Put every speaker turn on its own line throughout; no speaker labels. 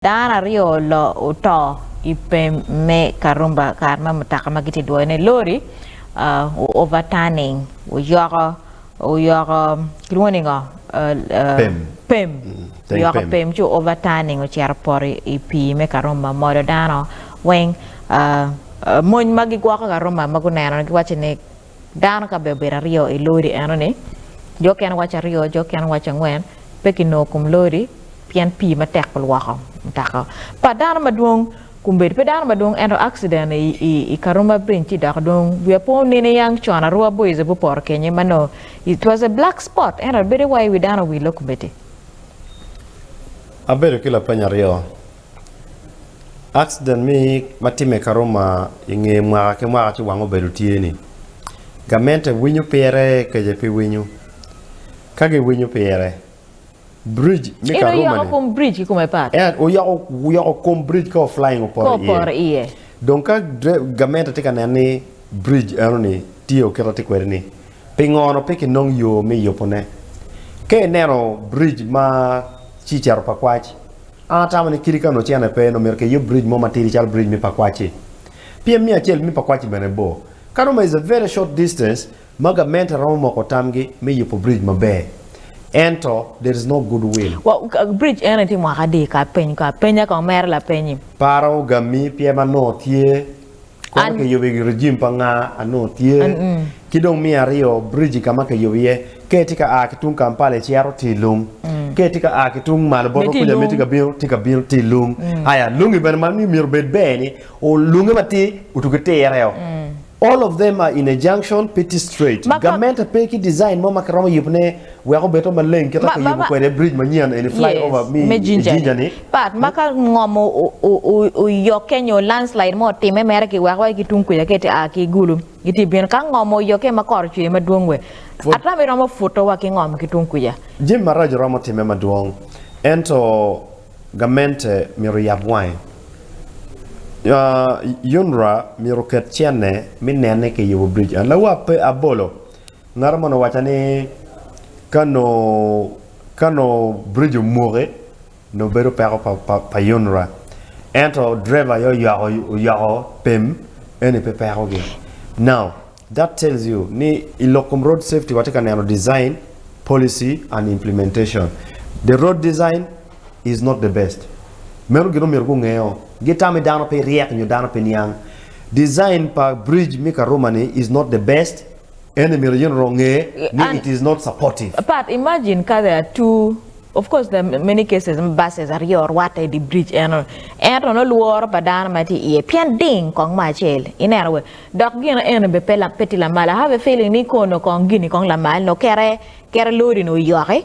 Dano aryo lo oto i pem me Karumba kare ma mutoka ma gitye dwoyo ne lori o overturning oyoko oyoko kilwongo ni ngo pem oyoko pem ci o overturning ocito opoto i pii me Karumba omolo dano weng mony ma gigwoko Karumba ma guneno giwaco ni Dano ka bene obedo aryo i lodi enoni, jo okene waco aryo, jo okene waco angwen, pe kinongo kom lodi pien pii matek olwoko mutoka pa dano madwong. Kombeddi pe dano madwong ento akciden i Karuma Bridge ci dok dong wiya pe onino i yang con arwa bor ice bu poto kenye ma nongo it was a black spot ento bedo wai wi dano owille kombeddi.
Abedo ki lapeny aryo. Akcident me ma timme i Karuma i nge mwaka ki mwaka ci wang obedo tye ni gamente winyo pire kece pe winyo. Ka gi winyo pire bridge me Karuma ni. In oyoko kom bridge ki kome pat.
En oyoko oyoko
kom bridge ka o flying opoto iye. Ka opoto iye. Dong
ka
gamente tye ka neno ni bridge eno ni tye okito tye kwede ni pingo no pe ki nong yo me yubo ne. Ka ineno bridge ma ci cito pa kwac. An atamo ni kidi ka onongo cene pe, onongo myero kiyub bridge mo matidi calo bridge me Pakwacci. Pyem me acel me Pakwacci bene bor. Ka Roma is a very short distance ma gamente romo moko tamgi me yubo bridge maber. Ento there is no good will. Bridge eno
itye mwaka adi ka apeny ko apenya ka omera lapeny-nyi? Paro gammi
pien ma nongo tye Kwano kiyubo i rejim pa nga anongo tye ki dong miya aryo bridge ka ma kiyubo iye ka itye ka a ki tung Kampala icito tye lung ka itye ka a ki tung malo bot wa kuca me tye ka bino tye ka bino tye lung aya lungi bene ma myero obed ber ni lunge ma tye otu ki tere o all of them are in a junction pe tye straight gamente pe ki design mo ma kiromo yubone Wek obedo maleng kit ma kiyubo kwede bridge manyen eni, flyover, me i Jinja ni. Pat ma ka ngom
oyokke nyo landslide mo otimme mere ki weko aye ki tung kuca ka iti a ki Gulu giti bino. Ka ngom oyokke ma kor ocwe madwong we, ata mi romo puto wa ki ngom ki tung kuca. Jami maraco romo
timme madwong ento gamente myero oyab wange. UNRA myero oket cene mi nene kiyubo bridge en. Lawa pe abolo. Ngat moni owacca ni ka nongo ka nongo biric omuke nongo bedo peko pa UNRA ento driver aye oyako oyako pem eni pe peko gi now that tells you ni i lok kom road safety watye ka neno design, policy and implementation the road design is not the best meno gin omyero gungeo gitami dano pe ryek nyo dano pe niang design pa biric me karuma ni is not the best En ni myero yin onge ni it is not supportive. But imagine ka
there are two of course there are many cases ma buses aryo orwatte i dye bridge eno ento nongo lworo pa dano ma tye iye pien ding kong mo acel ineno wee dok gino eno bene pe tye lamal I have a feeling ni kono kong gini kong lamal nongo kere kere lori ni oyoki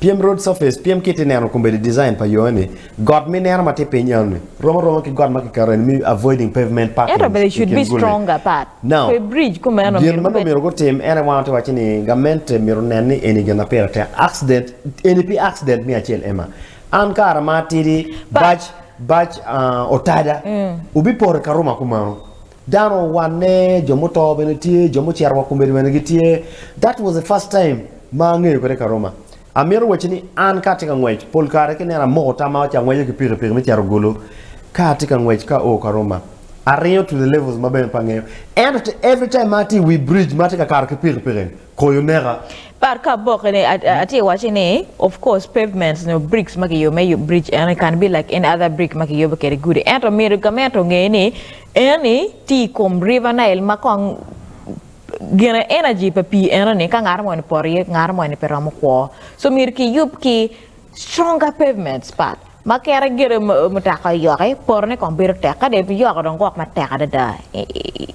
Pyem Road Surface, Pyem kit ineno kombeddi design pa yoo eni, got ma ineno ma tye piny enoni romo aroma ki got ma kiketo eni me avoiding pavement parking Ento bene it should be kin gulli. stronger
apart Now, pe bridge ku
meno gin
myero ma nongo gubed myero gutim en aye
wan watye waci ni gamente myero onen ni eni gin ma pire tek. Accident, eni pi accident me acel Emma. An kare ma atidi But- bac, bac ah, otada, wubipoto i Karuma kumeno. Dano owanne, jo muto bene tye, jo mucito wa komedi bene gitye. That was the first time ma angeyo kwede Karoma. Amito wacci ni an ka atye ka ngwec, pol kare ki neno amoko tamma aca angweco ki piki piki me cito Gulu ka atye ka ngwec ka oo Karoma. Aringo to the levels ma bene pe angeyo. Ento every time ma atye i wi bridge ma atye ka kato ki piki piki ni, Koyo neka. But ka aboke
ni atye waci ni of course pavements nyo bricks ma kiyubo me yub bridge eni can be like any other brick ma kiyubo kede gudi ento myero gament onge ni eni tye i kom river nile ma kong gine energy pa pii enoni ka ngato moni poto iye ngato moni pe romo kwo so myero kiyub ki Stronger pavements part ma kere gedo mutoka oyoko aye porone kong bedo tek kade iyoko dong gwok matek adada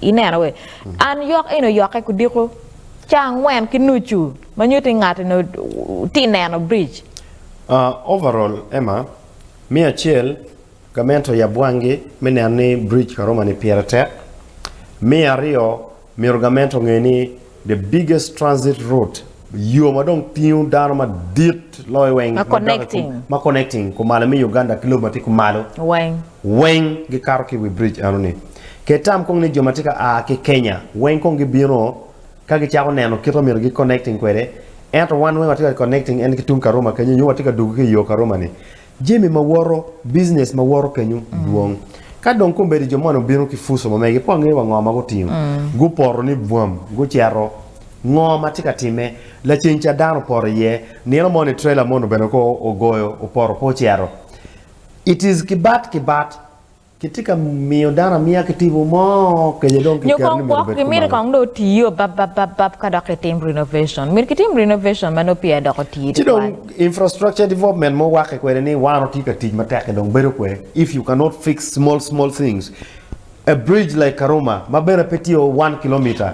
ineno wee and yok eni oyoke kudiko ca angwen ki nucu ma nyuto ni ngat eni tye neno bridge. Overall
Emma, me acel gamente oyab wangi me neno ni bridge Karoma ni pire tek, me aryo Myero gament onge ni the biggest transit route, yo ma dong tingo dano madit loyo weng, ma connecting kumalo me Uganda ki lobo ma tye kumalo weng gikato ki i wi bridge eno ni. Ket tam kong ni jo ma tye ka a ki Kenya weng kong gibino ka gicako neno kit ma myero gi connecting kwede, ento wan weng watye ka connecting en ki tung Karuma kenyu nyo watye ka dugu ki i yo Karuma ni. Jami ma woto, Business ma woto kenyo dwong. Ka dong kombeddi jo moni obino ki puca ma mege, pe wangeyo wa ngo ma gutingo. Gupoto ni bwam, guceto. Ngo ma tye ka timme? Laceng ca dano opoto iye. Nino moni trailer moni bene ko ogoyo, opoto pe oceto. It is ki bat ki bat. Kitye ka miyo dano amiya ki tipo mo kenyo dong Nyo kiketo ni kong myero gwok obed gi miti kumalo. kong dong
otiyo bab bab bab bab ka dok kitim renovation. Myero kitim renovation ma nongo peya doko tidi Ci dong twal. infrastructure
development ma wakke kwede ni wan otye ka tic matek ki dong bedo kwe if you cannot fix small small things a bridge like Karuma ma bene pe tye o one kilometer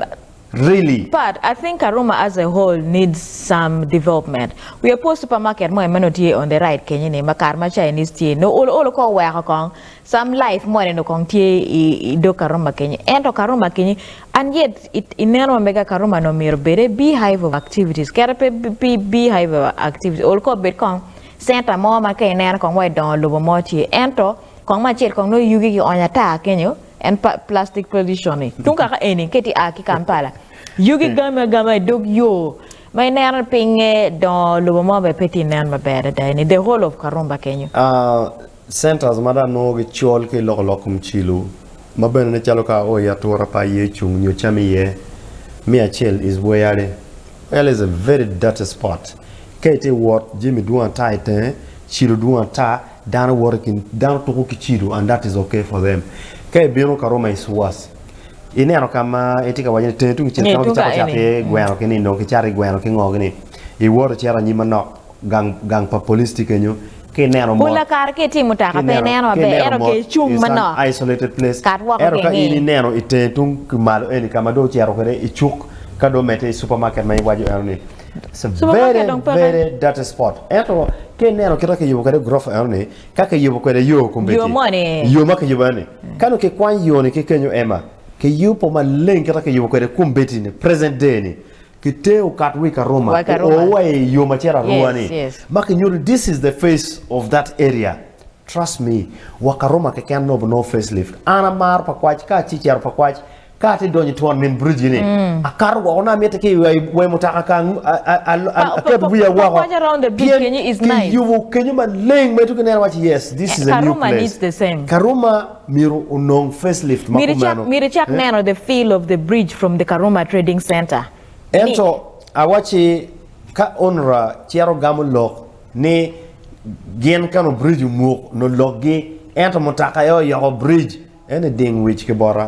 Really? Pat, I think
Karuma as a whole needs some development. Wiya pwo supermarket mo emeno tye on the right kenyo ni ma kare ma Chinese tye noo olo olo kong weko kong some life mo neno kong tye i dog Karuma kenyo ento Karuma kenyo and yet i neno ma mega Karuma noo myero bede beehive of activities kere pe pi beehive of activities ol kong obed kong center mo ma ka ineno kong wa idongo lobo mo tye ento kong me acel kong noo yugi ki onyo ata kenyo en plastic tradition i tung kaka eni kiti a ki kampala yugi gami agama i dog yo ma ineno pinge dongo lobo mo bene pe ti nen maber adada eni the whole of karumba kenyo. Centers
ma dong nongo gicol ki iloko lok kom cilo ma bene ne calo ka oo i atura pa aye cung nyo cam iye me acel is where yale yale is a very dirty spot ka iti wot jami dwong ata itenge cilo dwong ata Dano woto ki, dano tuko ki cido and that is ok for them. Ka ibino ka Roma Isuas, ineno ka ma itye ka waco ni tenge tung cel ka ma gicako cato iye gweno ki nindo, kicato iye gweno ki ngo ni, iwoto icito anyim manok, gang, gang pa police tye kenyo, ka ineno mot, Pula kare ka itye i mutoka
pe ineno maber, ento ka icung manok, isolated place, kat
woko ento ka in kinge. ineno itenge tung ki malo eni ka ma dong ocito kwede icuk, ka dong omedde i super market ma iwaco eno ni. Very very dirty spot ento ka ineno kit ma kiyubo kwede gurofa eno ni ka kiyubo kwede yo kombeddi yo ma kiyubo eno ni ka nongo kikwany yo ni ki kenyo Emma kiyubo maleng kit ma kiyubo kwede kombeddi ni present day ni kitero okat wa i Karuma oo wa i yo macito arua ni ma kinyuto ni this is the face of that area trust me wa Karuma keken nongo obinongo face lift an amaro pa kwac ka acecero pa kwac Ka atye donyo i twon min Bridge ni, akato woko nongo amitte ki i wee mutoka ka aketo wiya woko pien
kiyubo kenyo maleng
ma itye ka neno iwaci yes this is a new place. Karuma
myero
onong face lift ma
kumeno. Ento
awaci ka onra cito gamo lok ni gin ka nongo Bridge omuk nongo lokgi ento mutoka aye oyoko Bridge ento iding wic ki bota.